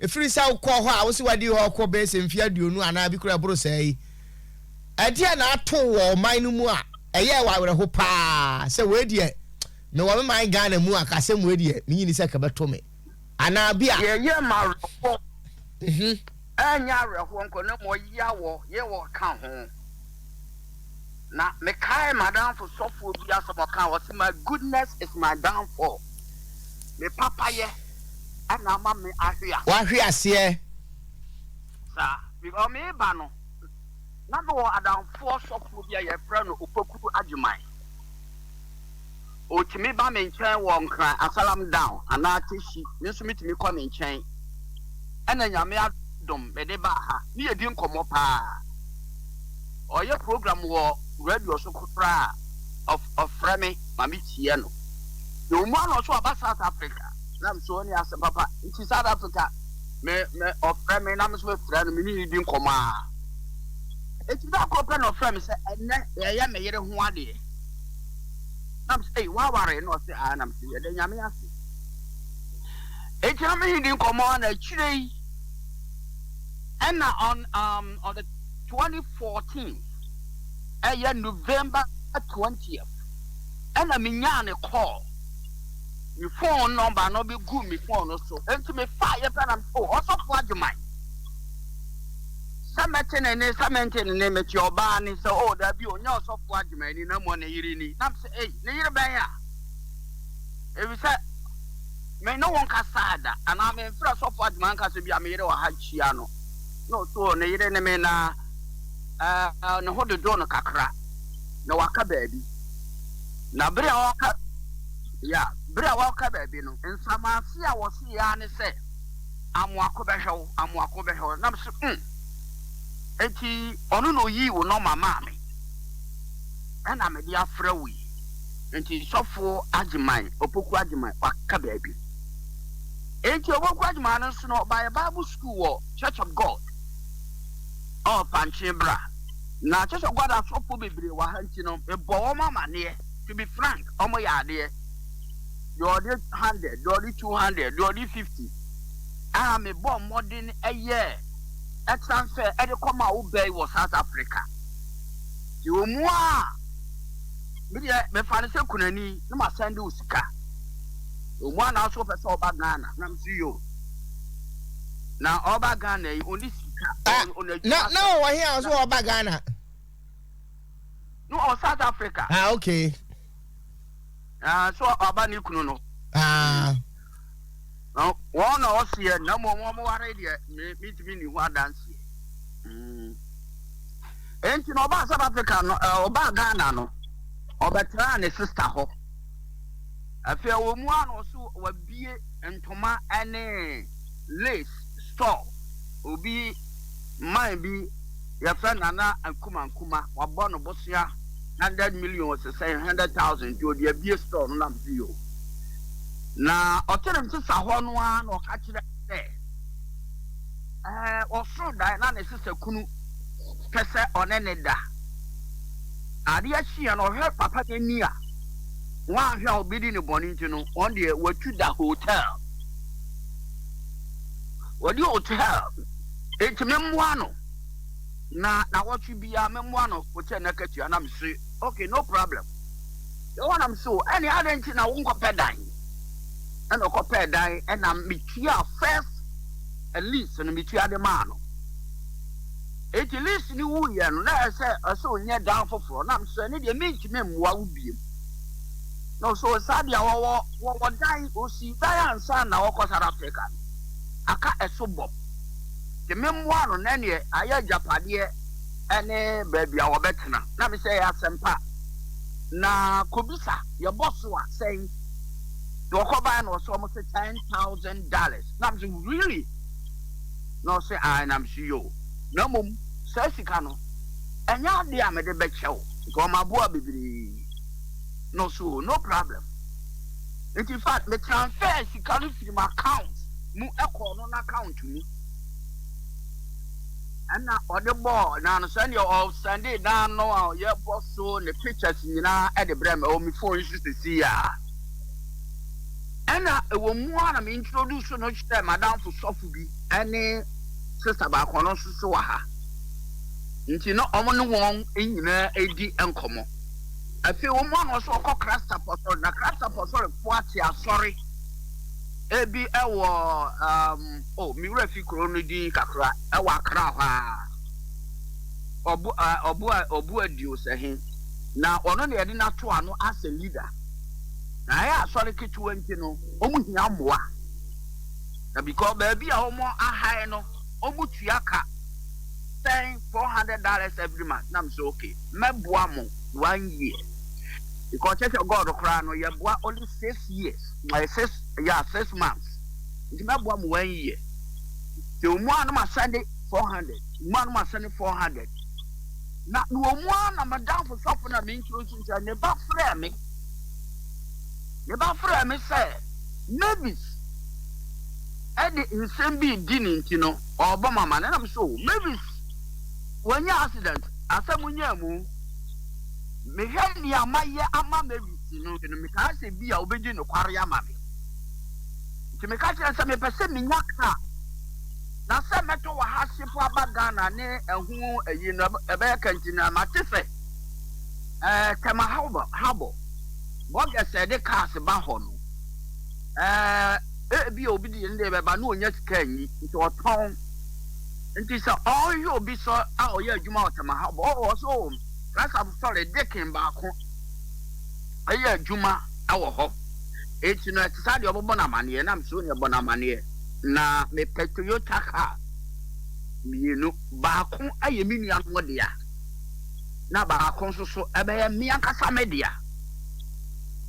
ɛfiri sɛ wokɔɔ hɔ a wo se woadi hɔ kɔ bɛyɛ sɛ mfeɛ aduonu anaa bi koraa ɛboro saa yi. Ɛdeɛn na ato wo wɔ ɔman no mu a ɛyɛɛ wo awerɛho pa ara sɛ wei deɛ mewɔ me man Ghana mu a ka asɛm wei deɛ mennye nni sɛ ka ɛbɛto me anaa bi a. Deɛ ɛyɛɛ me awerɛhoɔ, ɛnyɛ awerɛhoɔ nko na mmom ɔyea wɔ yɛ wɔ ka ho. Na mekae m'adamfo sɔfoɔ bi asɛm a ɔkaa, ɔse, My goodness is my downfall, me papayɛ na ama me ahwe ase. Wahwe aseɛ. Saa, because mereba no, na mewɔ adamfoɔ sɔfoɔ bi a yɛfrɛ no Opoku Agyemang. Ɔtumi ba me nkyɛn wɔ Nkran, Asalam Down anaa Teshie, me nso metumi kɔ ne nkyɛn. Ɛna Nyame adom mede baa ha, ne yɛdi nkɔmmɔ paa. Ɔyɛ program wɔ radio so koraa a, ɔfrɛ me ma me tie no. Na ɔmu ano nso ɔba South Africa, na me sɛ ɔne asɛm papa. Nti South Africa, me, me, ɔfrɛ me na me nso mefrɛ no, me ne no di nkɔmmɔ a. Nti da koro pɛ na ɔfrɛ me sɛ, ɛnɛ yɛyɛ me yere ho adeɛ. na mese ei woaware na ɔse aa na mese yɛda nyame ase eti na mehe di nkɔmmɔ a na akyire yi ɛna on um, on the 2014 ɛyɛ November 20th ɛna menyaa ne call me phone number no bɛgu me phone no so enti mefaa yɛ pɛ na mese oh, ɔsɔfo agyeman sɛ mɛte ne nne sɛ mente ne nne mete ɔbaa nne sɛ oh dabi ɔnyɛ ɔsɔfo adwuma ni na mmɔ ne yere ni na mesɛ ei ne yere bɛn a efisɛ me ne wo nkasaa da anaa memfrɛ sɔfo adwuma nka sɛ bi a me yere wɔ ha kyia no na ɔsɛ oh ne yere ne me na uh, ne ho dodo no kakra na waka baabi na bere a ɔka ya bere a ɔka baabi no nsamase a wɔsi ya ne sɛ Amoako bɛhwɛ wo, amoako bɛhwɛ wo. Na me se mm, enti ɔno na oyii wo nɔma maa me, ɛna mede afrɛ wo yi. Enti sɔfoɔ Agyeman, Opoku Agyeman, waka baabi. Enti Opoku Agyeman no nso no, ɔbaeɛ Bible School wɔ Church of God, ɔɔ Pankye Bra. Na Church of God asɔfoɔ bebree wɔ ha nti no, mebɔɔ wɔn amaneɛ, to be frank, wɔyɛ adeɛ. deɛ ɔde hundred, deɛ ɔde two hundred, deɛ ɔde fifty a mebɔ mmɔden yɛɛ transfer de kɔma wo bɛyi wɔ South Africa. Nti wɔn mu a medeɛ mefa no sɛ kunani na masɛnde wo sika. Wɔn mu a na nso wɔpɛ sɛ ɔba Ghana na mesi yo. Na ɔba Ghana yi ɔnni sika. Ah, ɔn- ɔn- na na ɔwɔ he a ɔso ɔba Ghana? No, ɔwɔ South Africa. Ah, okay. Ah, so ɔba ne kunu no. Ah. Na wɔn na ɔseɛ na mmom wɔn ware deɛ mentumi ne ho adanseɛ. Mm. Enti na ɔbaa South Africa no, ɔbaa Ghana no, ɔbɛtraa ne sista hɔ. Afei wɔ mu a na ɔso wabie ntoma ne lace store. Obi man bi Yɛfrɛ Nana Nkrumah Nkrumah, wɔabɔ no bosea hundred million ɔsesɛe hundred thousand nti ɔde abue store no nam so yi o. Na ɔte ne nsesa hɔ no ara na ɔka kyerɛ me sɛ ɛɛ ɔsoo dae na ne sesa kunu pɛ sɛ ɔne ne da. Adeɛ kyeeɛ no ɔhwɛ papa no ani a wanhwɛ a ɔbɛdi ne bɔne nti no wɔn deɛ watu da hotel. Wɔdi hotel nti memmoa no. Na nawɔtwe biara mɛmoa no hokyɛ nakatua na mese ok no problem Yehowa na mese o ɛne adɛn nti na wonkɔpɛ dan ɛna ɔkɔpɛɛ dan ɛna metua first lease no metua de maa no eti lease no wuiɛ no na ɛsɛ ɛsɛ onyɛ dan foforɔ na mese ɛne deɛ mentumi mmoa wo biem na ɔsɛ ɔsaa deɛ wɔwɔ wɔwɔ dan osi dan ansa na wɔkɔ South Africa no aka ɛso bɔ nti memmoa no na ɛneɛ ayɛ agyapadeɛ ɛne baabi a wɔbɛtena na mesɛ ɛyɛ asɛmpa na kɔbisa yɛbɔ so a sɛn na wɔkɔbaɛ na ɔsɛ ɔmo se ten thousand dollars na mesɛ really na ɔsɛ ae na mesɛ yoo na mmom saa sika no ɛnyɛ adeɛ a mede bɛkyɛw nka ɔmo aboa bebree na ɔsɛ oo no problem Nti infact me transfer sika no firi m'account mu kɔɔ no n'account mu. Ɛna ɔde bɔɔ na no sɛdeɛ ɔsɛnde dan no a ɔyɛ bɔ so ne pictures nyinaa ɛde brɛ me ɛwɔ me phone yi so sisi yɛ a. Ɛna ɛwɔ mu a na me introduce no hyɛ madamfo sɔfo bi ɛne sister baako ɔno nso so wɔ ha. Nti na wɔn ne wɔn nyinaa ɛdi nkɔmmɔ. Afei wɔn mu a na ɔsɛ ɔkɔ Christ Apɔsɔre na Christ Apɔsɔre fo ate asɔre ebi ɛwɔ um, oh, me wura fi kuro no din kakra ɛwɔ Accra hɔ a ɔbo ɔbo ɔbo adio sɛ he na ɔno na yɛde n'ato ano as a leader na ɛyɛ asɔre ketewa nti no wɔn hia mmoa na because baabi a wɔn ahae no wɔn tua ka sɛn four hundred dollars every month na mo sɛ okay. mɛboa mo one year because church of God koraa no yɛboa only six years my six yeah six months nti mɛboa mo one year te wɔn a no ma sɛnde four hundred wɔn a no ma sɛnde four hundred na na wɔn a na madamfo sɔfo na me nturo nso sɛ ne ba frɛ me ne ba frɛ me sɛ mavis ɛde nsɛm bi di ne nti no ɔbɔ mama ne nam so mavis. Wanya accident asɛm nyaa mu. Mehwɛ nea mayɛ ama Mary ti no no metaa sɛ bi a ɔbɛdi nokware ama me. Nti meka kyerɛ sɛ mepɛ sɛ menya kaa na sɛ mɛtɔ wɔ ha hye po aba Ghana ne ɛho ayi no ɛbɛyɛ kanti na mate sɛ ɛɛ Tema Harbor bɔgɛs a ɛde cars ba hɔ no ɛɛ ebi a obi deɛ ne deɛ bɛba na ɔnya sika nyi nti ɔtɔn. Nti sɛ ɔreyɛ obi sɔ a ɔyɛ adwuma wɔ Tama Hub ɔwɔ hɔ so oo, Christ Apostolic deacon baako yɛ adwuma wɔ hɔ. Nti no ɛte saa deɛ ɔbɛbɔ no amaneɛ na mesɛ onua bɔ no amaneɛ na mepɛ Toyota car mmienu, baako yɛ me nua no dea na baako nso so ɛbɛyɛ me ankasa me dea.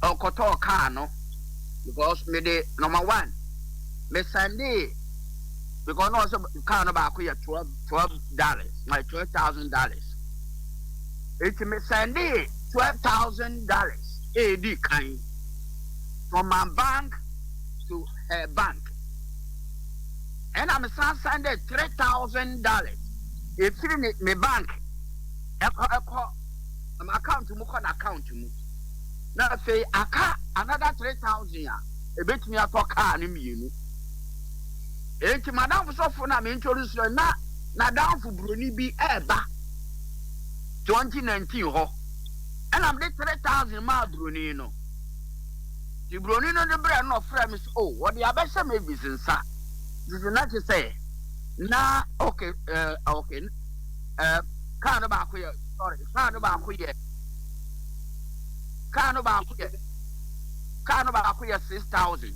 Ɔkɔtɔɔ car no because mede number one me sɛndee because na ɔsɛ car no baako yɛ twelve twelve dollars my twelve thousand dollars eti mi sɛnde twelve thousand dollars edi kan from my bank to her bank ɛna mi san sɛnde three thousand dollars efiri ne ne bank ɛkɔ ɛkɔ ɛm account mu kɔ na account mu na afei aka another three thousand a ebetumi atɔ car no mmienu. Enti m'adamfo sɔfo na me introduce no na n'adamfo buroni bi ɛreba 2019 hɔ ɛna mede 3000 maa buroni no. Nti buroni no de brɛ no na ɔfrɛ me sɛ oh wɔde abɛhyɛ Mavis nsa. Nti na kyerɛ sɛ na okay ɛɛ uh, okay ɛɛ uh, kaa no baako yɛ sorry kaa no baako yɛ kaa no baako yɛ kaa no baako yɛ 6000.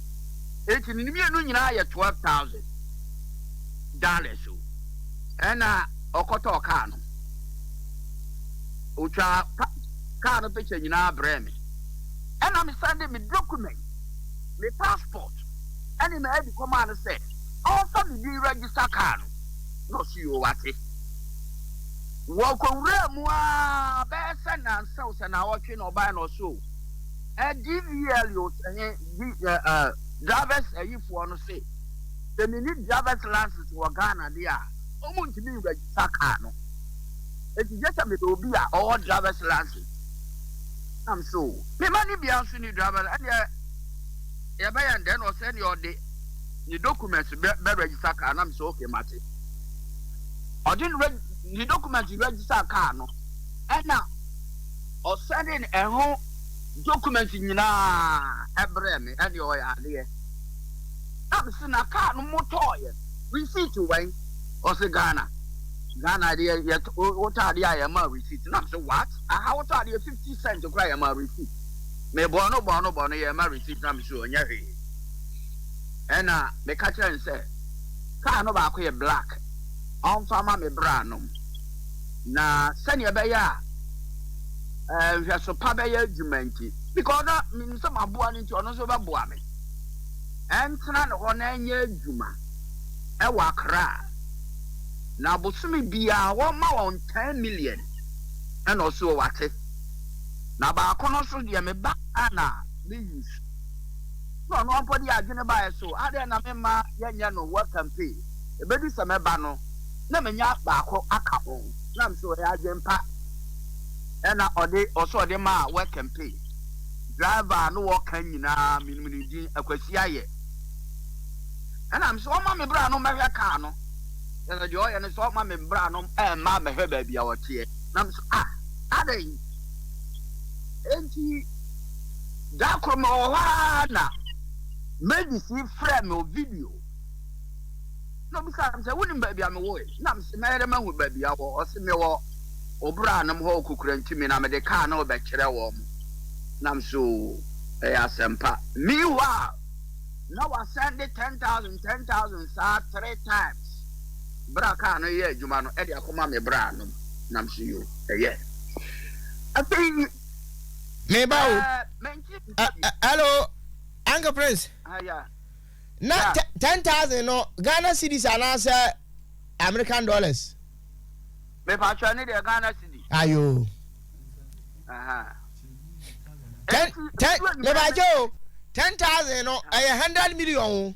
Enti ne mmienu nyinaa yɛ twelve thousand dollars o. Ɛna ɔkɔtɔɔ kaa no. Otwaa pa kaa no picture nyinaa brɛɛ me. Ɛna me sɛnde me document, me passport ɛne me ID kɔmaa no sɛ ɔmfa me din register kaa no. Na ɔse yoo wate. Wɔkɔwuraa mu ara bɛyɛ sɛ nnansa o, sɛ nnawɔtwe na ɔbaeɛ na ɔse o. Eh DVLOs eh di eh eh Drivers ayi foɔ no se sɛ meni drivers license wɔ Ghana deɛ a ɔmo ntumi n register car no enti gye sɛ meyɛ obi a ɔwɔ drivers license na me se oh me ma no biaa nso ni drivers ɛneɛ yɛbɛyɛ no dɛn ɔse ɛneɛ ɔde ne documents bɛ bɛ register car na me se ok mate ɔde ne ne documents register car no ɛna Ɔsɛndee ɛho document nyinaa brɛɛ me ɛne ɔyɛ adeɛ na me se na car no motɔɔyɛ receipt wɛn? Ɔse Ghana Ghana deɛ yɛtɔ wotɔ adeɛ a yɛma receipt na me se what? Aha wotɔ adeɛ 50 cent koraa yɛma receipt me bɔɔ no bɔɔ no bɔɔ no yɛma receipt na me se ɔnyɛ hwee ɛna me ka kyerɛ no sɛ car no baako yɛ black ɔmfa ma me bra nom. Na sɛnea ɛbɛyɛ a ɛɛ nhwɛso pa bɛyɛ adwuma nti. Because na menim sɛ maboa no nti ɔno nso bɛboa me. Ɛntena ne hɔ na ɛnyɛ adwuma ɛwɔ Accra. Na bosome biara wɔma wɔn ten million ɛna ɔsoɔ wate. Na baako no nso deɛ meba Ghana a me use. Na ɔno ara mpo de adwene baeɛ so adɛn na memma yɛnyɛ no work and pay. Ɛbɛdu sɛ mɛba no. na manya baako aka ho. Na ɔse ɔyɛ adwen pa. Ɛna ɔde ɔse ɔde maa wɛ campaign driver a ne wɔka nyinaa menim ne din Akwasi Ayɛ. Ɛna mese ɔma me bra no mmɛhwɛ car no. Kyɛsɛ deɛ ɔyɛ ne sɛ ɔma me bra no ɛmma mmɛhwɛ baabi a ɔteɛ. Na mese ah adɛn. Enti da koro mewɔ hɔ aa na Mavis frɛ me wɔ video. na ɔbisaa me sɛ, wonim baabi a mewoe? Na mese, mɛyɛ dɛ mahu baabi a wɔ. Ɔse, mewɔ wo braanom hɔ wɔ Kokurantumi, na mede kaa no rebɛkyerɛ wɔn. Na mese, oo, ɛyɛ asɛmpa. Meanwhile, na wɔasɛnde ten thousand, ten thousand saa three times berɛ a kaa no reyɛ adwuma no de akɔma me braanom. Na mese, yo, ɛyɛ. Afei, Meba o. ɛɛ, mente. Ɛ- ɛ- Hello, Uncle Prince. Ah, yeah. na yeah. ten thousand no ghana cedis anaasɛ american dollars. mepa atwa ne deɛ ghana cedi. ayo. ten ten mepa atwa o ten thousand no ɛyɛ hundred million o.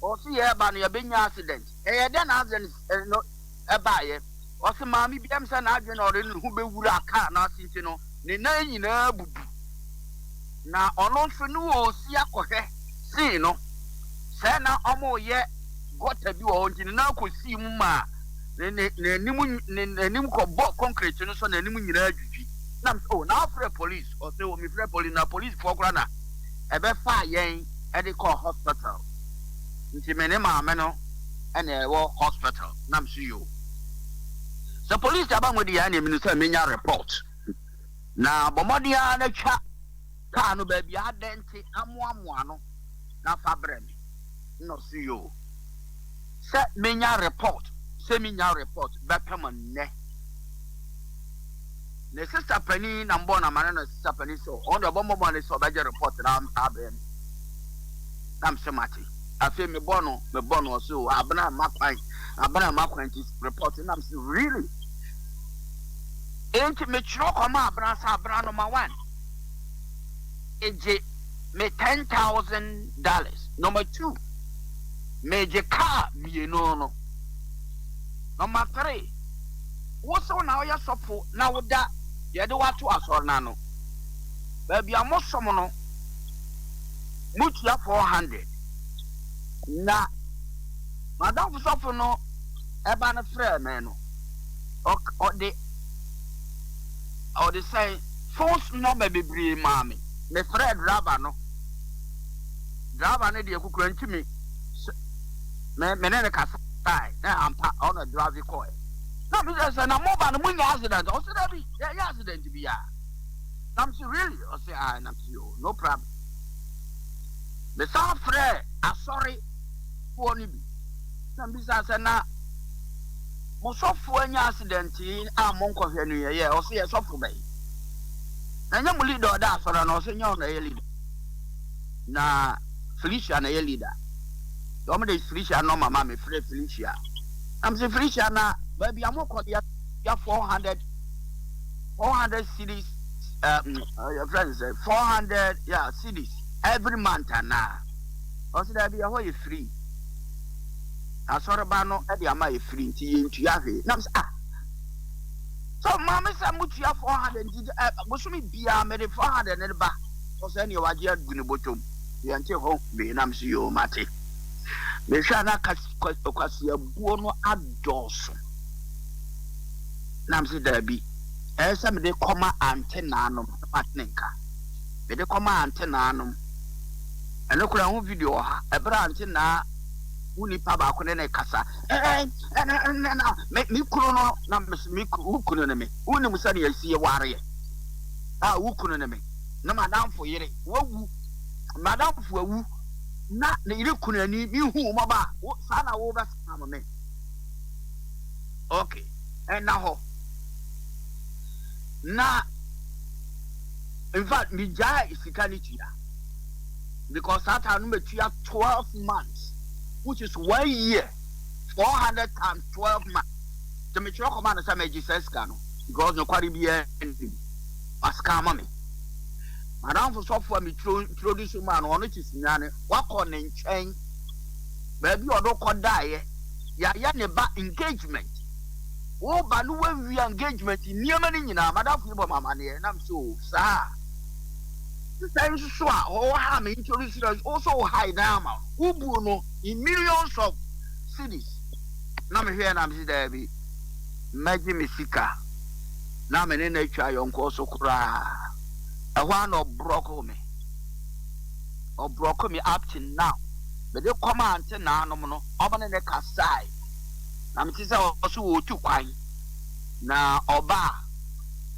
Ɔse yɛɛba no yɛbɛnya accident. Ɛyɛ dɛn na accident no baeɛ? Ɔse maame bi ɛmsɛ n'adwene na ɔde ne ho bɛwura car no ase nti no ne nan nyinaa abubu. Na ɔno nso ne ɔresi akɔhwɛ scene no sɛ na wɔreyɛ gutter bi wɔ hɔ nti ne nan kɔsii mu maa n'anim n'anim kɔbɔɔ concrete no so n'anim nyinaa dwidwi. Nam sɛ oh na wofrɛ police? Ɔse oh mefrɛ police na policefoɔ koraa na Ɛbɛfaa yɛn de kɔɔ hospital nti me ne maame no na yɛwɔ hospital na me so yoo. Sɛ police aba mu deɛ ɛneɛ menim sɛ menya report na bɔ mmɔden ara na twa car no baabi a adɛn nti amoamoa no na fa brɛ me. Nnɔso yi o. Sɛ menya report sɛ minnya report bɛpem nnɛ. Ne sister panin na mbɔɔ no amane na sister panin sɛ ɔno deɛ ɔbɔ mmɔbɔ ne sɛ ɔbɛgye report na abrɛ me. Na mese mate. Afei mebɔ no mebɔ no ɔse o abena mma kwan abena mma kwan nti report na mese really. Enti mekyerɛ kɔma abena sɛ abena number one egye me ten thousand dollars number two me gye car mmienu no number three wo so na woyɛ sɔfo na wo da deɛ de wato asɔre no ano baabi a mo som no mo tua four hundred na madam sɔfo no ɛba no frɛ me no ɔde ɔde sɛn phones number bebree maa me. Mefrɛɛ driver no. Driver no deɛ kukura nti me me me ne no kasae na ampa ɔno na drive kɔɛ. Na me sɛ sɛ na mo ba no mo nya accident a ɔsɛ dɛbi yɛ nya accident bi a. Na me sɛ really ɔsɛ a na me sɛ yo no problem. Me san frɛɛ asɔre foɔ no bi na me bisa sɛ na mo sɔfoɔ anya accident yi a mo nkɔhwɛ no yɛ yɛ ɔsɛ yɛ sɔfo bɛyi. na ɛnyɛ mo leader a ɔda asɔre anaa ɔsɛ nyɛ ɔna ɛyɛ leader na Felicia na ɛyɛ leader yɛ ɔmo de Felicia nɔma ma me frɛ Felicia na mo sɛ Felicia na baabi a mo kɔ no yɛ four hundred four hundred cities um, your friend said four hundred yeah cities every month anaa ɔsɛ daabi ɛhɔ yɛ free asɔreba no ɛde ama yɛ free nti yɛ ntua hwee na mo sɛ ah So mma me sɛ motua four hundred nti ɛ bosome biara mede four hundred no ba sɔ sɛ neɛ wagye agu ne bɔtɔm yɛnte ho wee na mese yoo mate mehwɛ a na kwaseabuo no adɔɔso na mese daabi ɛyɛ sɛ mede kɔma ante naanom na mate ne nka mede kɔma ante naanom ɛno koraa ho video wɔ ha ɛberɛ ante naa wo nipa baako ne ne kasa me kunu no na me wo kunu ne me wonim sɛdeɛ ɛsi yɛwareɛ a wo kunu ne me na madamfo yere wawu madamfo awu na ne yere kunu ani mehu mmɔba a wo saa na wobɛsam me ok ɛna hɔ na in fact megyae sika no tua because saa taa no matua 12 months which is one year four hundred and twelve months nti metwerɛ kɔma no sɛ magye saa sika no because nokware biara nnim wasika ama me madamfo sɔfo a metroduce maa no ɔno te sunyane wakɔ ne nkyɛn baabi a ɔde kɔdaeɛ yɛayɛ ne ba engagement woba no woawia engagement nneɛma no nyinaa madamfo yi bɔ mamaneɛ nam so saa Sɛ nso so a ɔwɔ ha me introduce no wo so wo hide na ama wo bu no in millions of cedis na me hwɛ na me si daa bi mɛgye me sika na me ne na atwa yɔnkɔ so koraa ɛhɔ a na ɔbrɔko me ɔbrɔko me up to now me de kɔma ante naanom no ɔmo ne ne kasae na me ti sɛ ɔso wɔ otu kwan na ɔba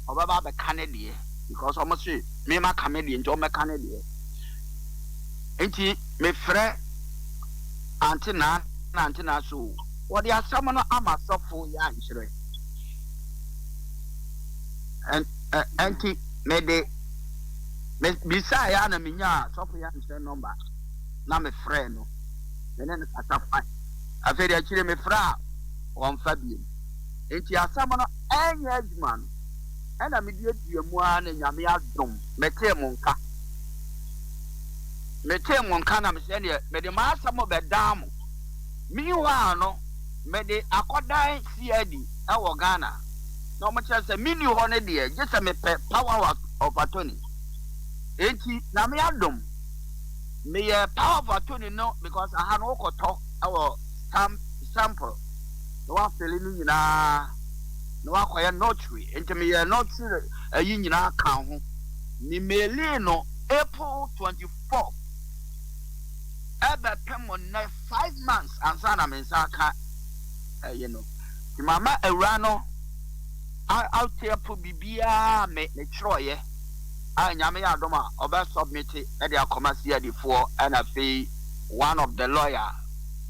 ɔbɛba abɛka ne deɛ because wɔn se me ma ka me deɛ nti wɔn bɛka ne deɛ nti mefrɛ ante naa na ante naa so wɔde asɛm no ama sɔfo yɛ ankyerɛ nti mede bisa ya na menya sɔfo yɛ ankyerɛ nɔmba na mefrɛ no mene no kasa fa afei de akyire mefrɛ a wɔmfa biem nti asɛm no ɛnyɛ adwuma no ɛna me duadua mu ara na Nyame adom me tee mo nka. Me tee mo nka na me sɛ ɛneɛ me de m'asɛm bɛ dan mo. Meanwhile no, me de akɔ dan CID ɛwɔ Ghana. Na ɔmo kyerɛ sɛ me nni hɔ no deɛ, gye sɛ me pɛ power of attorney. Enti Nyame adom, me yɛ power of attorney no because aha no wo kɔ tɔ ɛwɔ stamp, sample. na w'afeli no nyinaa na w'akɔyɛ nɔtri nti me yɛ nɔtri ayi nyinaa ka ho me mailing no April 24 ɛbɛ pɛ mo nɛ 5 months ansa na me nsa aka ɛyi no nti mama awura no ateɛ po bibiaa me me twerɛ yɛ a nyame yɛ adom a ɔbɛ submit ɛde akɔma si adifoɔ ɛna fei one of the lawyer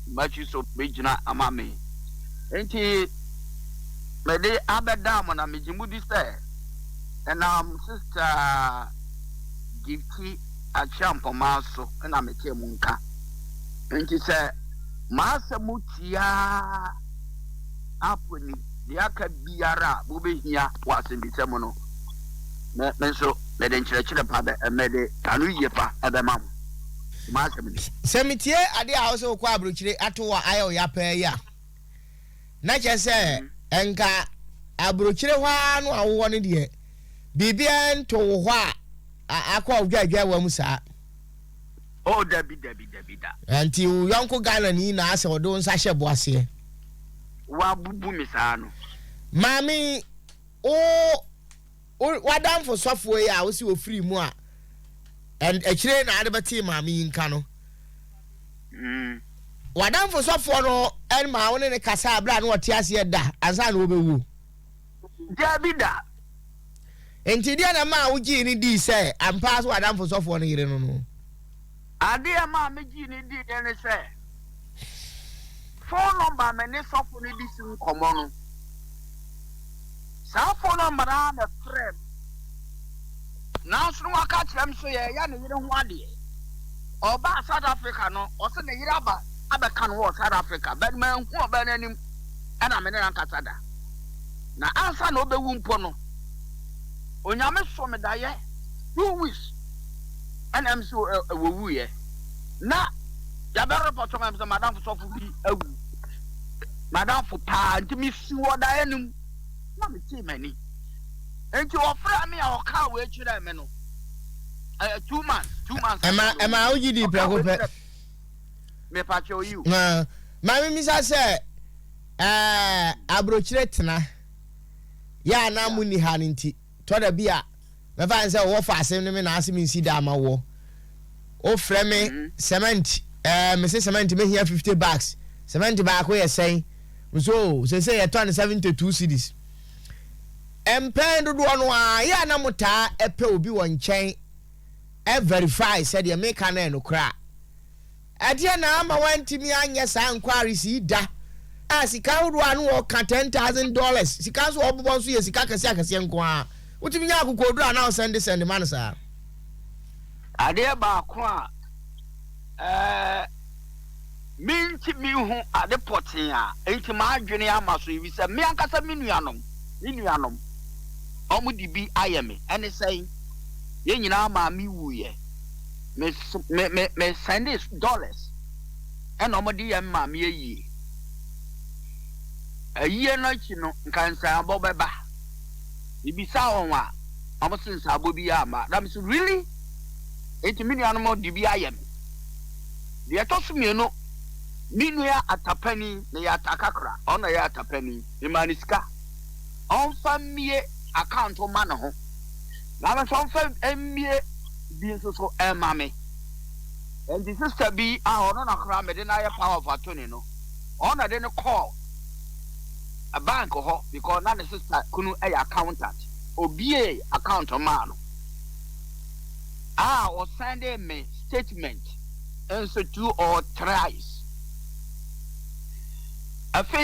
m'akyi so bɛgyina ama me. Enti mede abɛda mo na megye modi sɛ ɛnam Sista Gifty Acheampongmaa so na metee mo nka. Enti sɛ m'asɛm tiaa apo ni deɛ aka biara a mobɛhia wɔ asɛmmisa mu no, me nso mede nkyerɛkyerɛ pa bɛ, mede ano yie pa bɛma mo. Sɛ metie ade a wosɛ wokɔ aburokyire ato wɔ ayɛ wo ya paa yi a, na kyerɛ sɛ nka aburokyire hɔ ara no a wowɔ no deɛ biribiara nto wo hɔ a akɔ ɔdwaadwaa wa mu saa. O oh, dabi dabi dabi da. Nti wo yɔnko Ghana ni na asɛ ɔde wo nsa hyɛ bo aseɛ. Wabubu me saa no. Maame wo Wo w'adamfo sɔfoɔ yi a wose ɔfirii mu a and akyire yi na ade bɛtee maame yi nka no, w'adamfo sɔfoɔ no ɛmaa wo ne ne kasaa aberɛ a na ɔte aseɛ da ansa na ɔbɛwuo? Daabi da. Nti deɛ na ɛmaa wo gyee no dii sɛ ampa ara sɛ w'adamfo sɔfoɔ no yere no no? Ade a ɛmaa megyee no diiɛ ne sɛ, fon nɔmba a me ne sɔfo no de si nkɔmmɔ no, saa fon nɔmba no ara na ɛfrɛɛ me. Nanso na waka kyerɛ me sɛ yɛreyɛ ne yere ho adeɛ. Ɔbaa South Africa no, ɔse ne yere aba abɛka no wɔ South Africa, but manhu ɔbaa no anim na me ne no ankasa da. Na ansa na ɔbɛwu mpo no, Onyame soo me daeɛ two weeks. ɛna m so ɛ wɔwuiɛ na yɛbɛ repɔtɔ ma m sɛ madamfo sɔfo bi awu madamfo paa nti mesi wɔ daeɛ no mu na metee m'ani nti wɔfrɛ me a wɔkaa wei kyerɛɛ me no ɛyɛ two months two months ɛma ɛma wogye di prɛko pɛ mepakyɛ oyi o maame misa sɛ ɛɛ aburokyire tena yɛ a na mo ni ha no nti Tɔ da bi a, mɛfa ne sɛ wowɔ faase ne me naase mensi da ama woɔ. Wofrɛ me cement, ɛɛ mese cement mɛhia 50 bags. Cement baako yɛ sɛn? Mese oo, seesei yɛtɔ no 72 cedis. Mpɛn dodoɔ no ara, yɛ a na motaa ɛpɛ obi wɔ nkyɛn ɛ verify sɛ deɛ meka no yɛ nokorɛ a. Ɛdeɛn na ama wantumi anyɛ saa enquiries yi da a sika ahodoɔ a na wɔka ten thousand dollars sika nso a wɔbobɔ nso yɛ sika akɛseɛ akɛseɛ nko ara wotumi nya akokoɔduro a na wo sɛnde sɛnde ma no saa. Adeɛ baako a ɛɛ mentumi nhu ade pɔtee a enti m'adwene ama so ebi sɛ me ankasa me nuanom me nuanom wɔn de bi ayɛ me ɛne sɛn yɛn nyinaa maame wuiɛ. me me me me sɛnde dollars ɛna wɔn de yɛ maame ayie ayie no akyi no nka nsaabɔ bɛba ebisa wɔn a wɔn se nsaabɔ bi yɛ ama na me se really eti me nuanom de bi ayɛ me deɛ ɛtɔ so mmienu me nua atapani na yɛ atakakra ɔno na yɛ atapani mmaa ne sika ɔnfa mmie account ma ne ho. na me nso mfa mmie bi nso so mma me. Enti sista bi a ɔno na koraa mede no ayɛ power of attorney no, ɔno na de no kɔɔ bank hɔ because na ne sista kunu yɛ accountant. Obiee account maa no a ɔsɛndee me statement nso two or thrice. Afei